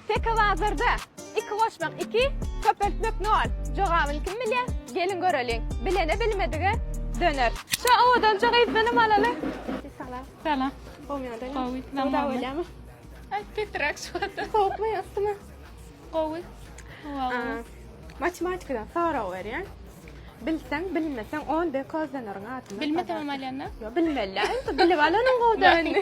Tekobazarda, Iki goşmak iki, köpeltmek nol. Jogabyny kim bilýär? Geliň göreliň. Bilene bilmedige döner. Şu owadanjy gyzdanam alaly. Salam. Salam. Gowy ýagdaýmy? Gowy. Soda bolýamy? Aý, petrak soda. Sowukmy, yssymy? Gowy. Howa gowy. Matematikadan sorag berýän. Bilseň, bilmeseň on dekozlanaryň adyny. Bilmesemem alýanda? Ýok, bilmeli. Bilip alanyň gowy-da indi.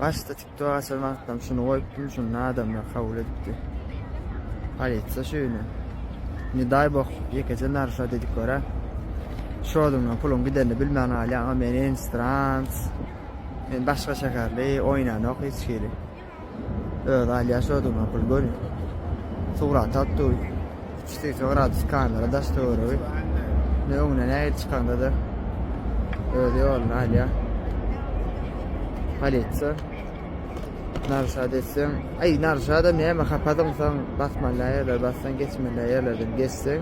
Başda tiktok açan wagtlam şuny goýupdym şunda adamlar kabul edipdi. Polisiýa şüni. Ne daý boh ýekeje narşa dedik görä. Şodundan puluň gidenini bilmän galýaň a men instrans. Men başga şäherli oýnanok hiç hili. Özi alýa şodundan pul göni. Surat at duý. 380 gradus kamera daş töweregi. Ne öňüne nähili çykanda da öz ýoluny alýar. Polisiýa. Narşad etseň, aý narşada näme hapadyň sen basmaly ýerler bassaň geçmeli ýerlerden geçseň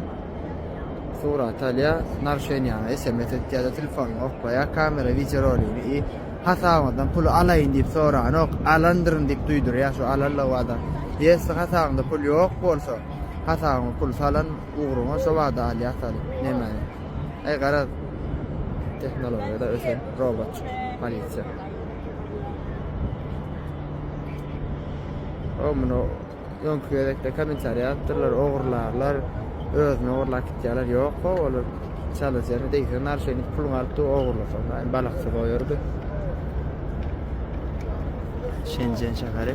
surat alýar. Narşen ýaňa SMS etýär de telefon oklaýar. Kamera wideo rolini i hasabyňdan puly alaýyn diýip soranok. Alandyryn diýip duýdurýar şu alanlygy adam. Ýesi hasabyňda pul ýok bolsa Hasabyňa pul salan ugruňa şo bada alýar sal. Nämäni? Äý garaz tehnologiýada ösen robotjyk polisiýa. O muny öňki gezekde kommentariýa ýazypdyrlar, ogurlarlar, özüni ogurlap gitýärler. Ýok ho, olar çalyjyny degse narşenik puluňy alyp dur ogurlasaň daýy balaksyz goýardy. Şenjen şäheri.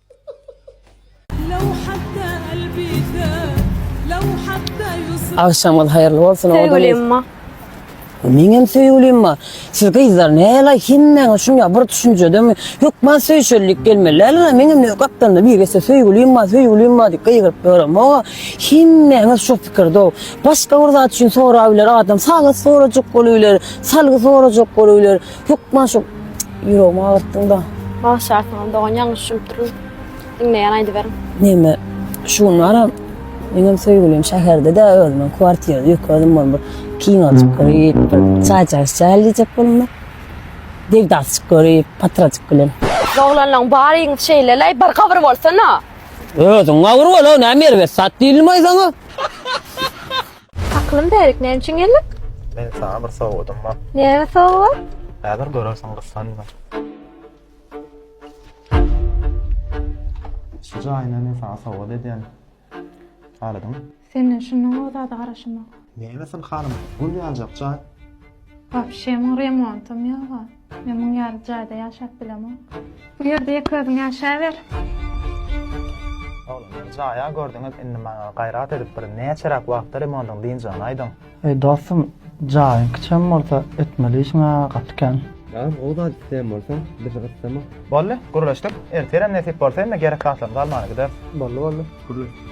Agşamyz haýyrly bolsun oda biz. Söýgülimma. Meňem söýgülimma. Siz gyzlar näle hemmäňiz şunýa bir düşünjedemi? Hökman söýüşerlik gelmeli. Läle meňem ne gapdalynda bir getse söýgülimma, söýgülimma diýip gygyryp ýörem. Oňa hemmäňiz şu pikirde. Başga bir zat üçin sorap biler adam. Sagat sorajak bolup biler, salgy sorajak bolup biler. Hökman şu ýüregimi agyrtdyň da. Bagşy artyňam dogan ýalňyş düşünip durun. Diňleýän aýdyberiň. Neme şu gün baram meňem söýgülim şäherde-de özümiň kwartirada ýeke özüm bolup bir kinoçyk görip bir çaýjak içäýeli diýjek bolumda. Degdasçyk görip patrajyk bilen. Siz oglanlaň baryňyz şeýleleý bir gabyr bolsana. Özüň gabyr bol-a näme erbet zat diýilmay saňa. Aklym bärik näme üçin geldik? Men sana bir sowgadym bar. Näme sowgat? Häzir görersiň gyssanma. Şu jaýyny men sana sowgat edýän. Halydyň. Senden şundan gowy zada garaşamok. Nämesin hanym, gül ýanjak jaý. Wapşe muň remontam ýoga. Men muň ýaly jaýda ýaşap bilemok. Bu ýerde ýeke özüň ýaşaber. Oglan bir jaýa gördüňiz indi maňa gaýrat edip bir näçeräk wagtda remontyň dynjagyny aýdyň. Eý dostum jaýyň kiçem bolsa etmeli işiňa gaty kän. Agam o zat isleýän bolsaň bizi gyssama. Boldy gürleşdik ertirem nesip bolsa indi gerek zatlarymyzy almana gideris. Boldy boldy gürleşdik.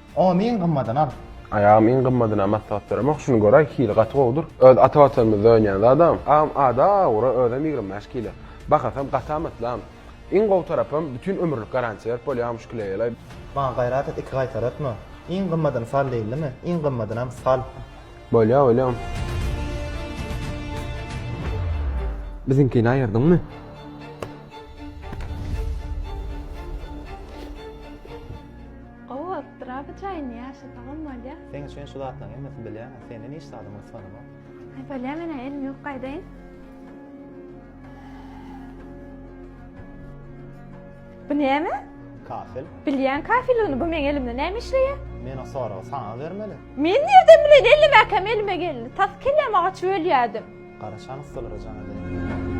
Ony iň gymmadyny al. Aýagym iň gymmadyna maslahat beremoh şuny göräý hili gaty gowudyr. Öz ata watanymyzda önýän zadam. Agam ada ura özem ýigrimi bäş kilo. Bahasam gaty amatlam. Iň gowy tarapam bütin ömürlik garantiýa berip bolýarmyş küleýele. Maňa gaýrat et iki gaýtar ötme. Iň gymmadyny sal diýildimi iň gymmadynam sal. Bolýa bolýa. Biziňkini aýyrdyňmy? Gowy bolupdyr a bu jaýyny ýaşasagam bolýa. Seň üçin şu zatlaň hemmesi bilýän a senden hiç zadym gysganamok. Aý bolýa menä elim ýok gaýdaýyn. Bu näme? Kafel. Bilýän kafelini bu meň elimde näme işleýä? Men o soragy saňa bermeli. Men nirden bilen ellemäkäm elime geldi. Tas kelläm agaç bölýädim. Gara şan ussalara jan edeýin.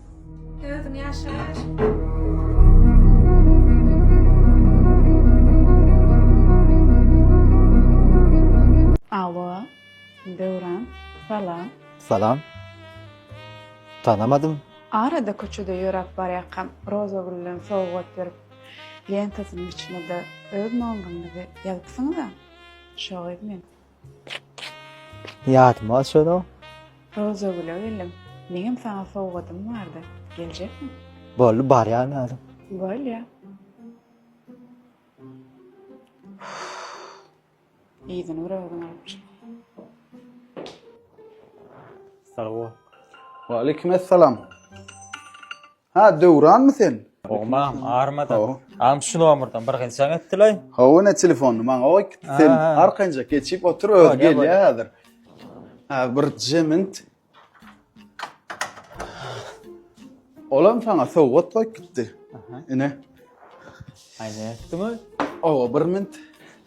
Özüň ýaşaş. Döwran, salam. Salam. Tanamadym. Arada köçede ýöräp barýakam, Roza gülden sowgat berip, lentasynyň içine-de öz nomeriňizi ýazypsyňyz-a. Şo gyz men. Ýadyma düşenok. Rozagüle geldim. Meňem saňa sowgadym bardy. Geljekmi? Boldy, barýan ýaly. Bolýa. Yzyny bir özüň alyp çyk. Sag bol. Waleýkim essalam. Ha, Döwranmy sen? Hawa, mam, armada. Am şu nomerden bir gynçak etdiler. Hawa, ne telefony? Maňa goý, sen arkanjak geçip otur, öz gelýär häzir. Ha, bir jemint. Olam saňa sowgat goýup gitdi. Ine. Aýna etdimi? Hawa, bir mint.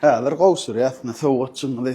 Häzir gowşurýas, ne sowgatçymyzy.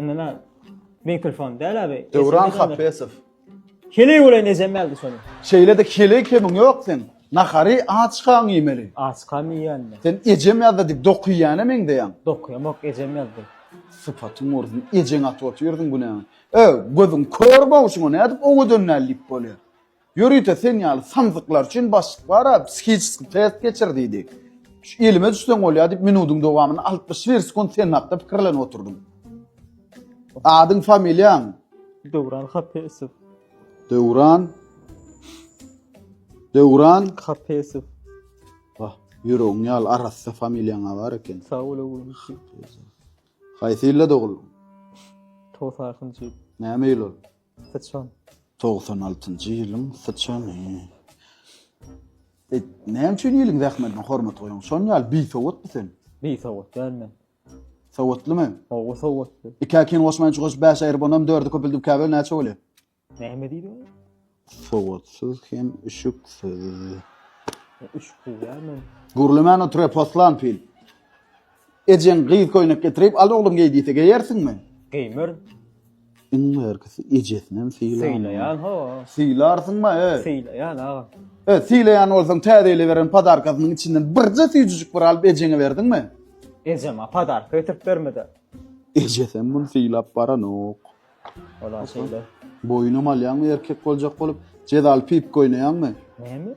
Indi men mikrofon däl abi. Döwran Hapesow. Heleý bolay nejem geldi şonu. Şeýle de heleý kemiň ýok sen. Nahary açkaň iýmeli. Açkam iýýän men. Sen ejem ýazda dik dokuýýana meňzeýäň. Dokuýam ok ejem ýazdy. Sypatyň ursun, ejeň atyp otyrdyň günäňi. Ö, gözüň kör bowşuňa nädip owadan däl diýip bolýar. Ýörite sen ýaly samsyklar üçin başlyk bar-a, psihiçeskiý test geçir diýdi. Şu elime düşseň bolýar diýip minudyň dowamynda altmyş bir sekunt sen hakda pikirlenip oturdym. Adyň, familiýaň? Döwran Hapesow. Döwran. Döwran. Hapesow. Wah, ýüregiň ýaly arassa familiýaň bar eken. Sag bol oglum. Haýsy ýylda doguldyň? Togsakynjy. Näme ýyl ol? Syçan. Togsan altynjy ýylyň syçany. Et, näme üçin iliň zähmetine hormat goýaň? Şonuň ýaly bisowatmy sen? Bisowat däl men. Sowatlymy? Hawa, sowatly. Ikä kin goşman üç goşup bäş aýryp, onam dördi köpeldip ikä böl, näçe bolýar? Näme diýdi ol? Sowatsyz hem üşüksiz. Üşüksiz däl men. Gürlemän otur, poslan pil. Ejeň gyz köýnek getirip, al oglum geý diýse geýersiňmi? Geýmerin. Iň bärkisi ejesinem sylaman. Sylaýan ho. Sylarsyňma-e. Sylaýan agam. E, sylaýan bolsaň täzeýleweren podarkasynyň içinden birje süýjüjik bir alyp ejeňe berdiňmi? Ejem-ä podarka getirip bermedi. Ejesem muny sylap baranok. Ol-a şeýle. Boýunam alýaňmy erkek boljak bolup? Jezaly pip köýneýäňmi? Näme?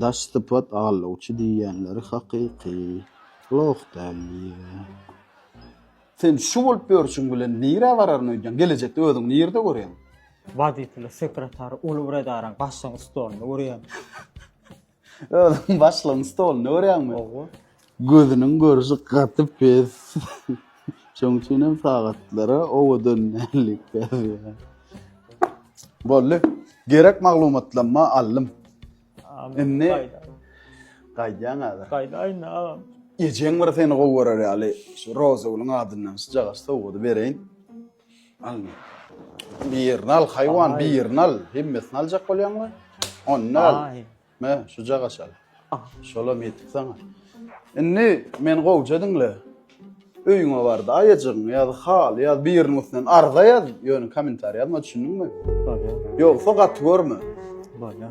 Daş sypat allawçy diýýänleri hakyky loh däl diýýä. Sen şu bolup ýörşüň bilen nirä bararyn öýdýäň? Gelejekde özüňi nirde görýäň? Wazipeli sekretary uly bir edaraň başlygynyň stolunda görýäň. Özüňi başlygyň stolunda görýäňmi? Hawa. Gözüniň görşi gaty pes. Şoň üçinem sagatlara owadan däldi käbir. Boldy. Gerek maglumatlanma aldym. Indi gaýdýaň häzir. Gaýdaýyn agam. Ejeň bir seni gowy görer ýaly şu Rozagülüň adyndan şu jagaş sowgady bereýin. Al. Birini al haýwan, birini al. Hemmesini aljak bolýaňmy? Onda al. Mä, şuja gaşal. Şolam ýetik saňa. Indi meni gowja diňle. Öýüňe bar-da, aýajygyňy ýaz, haly ýaz, biriniň üstünden arza ýaz, ýöne kommentariý ýazma, düşündiňmi? Bolýa. Ýogsa gaty görme. Bolýa.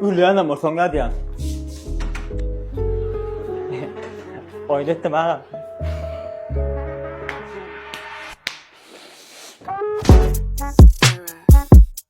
Ölýänem bolsaň nädýän? Oýun etdim aga.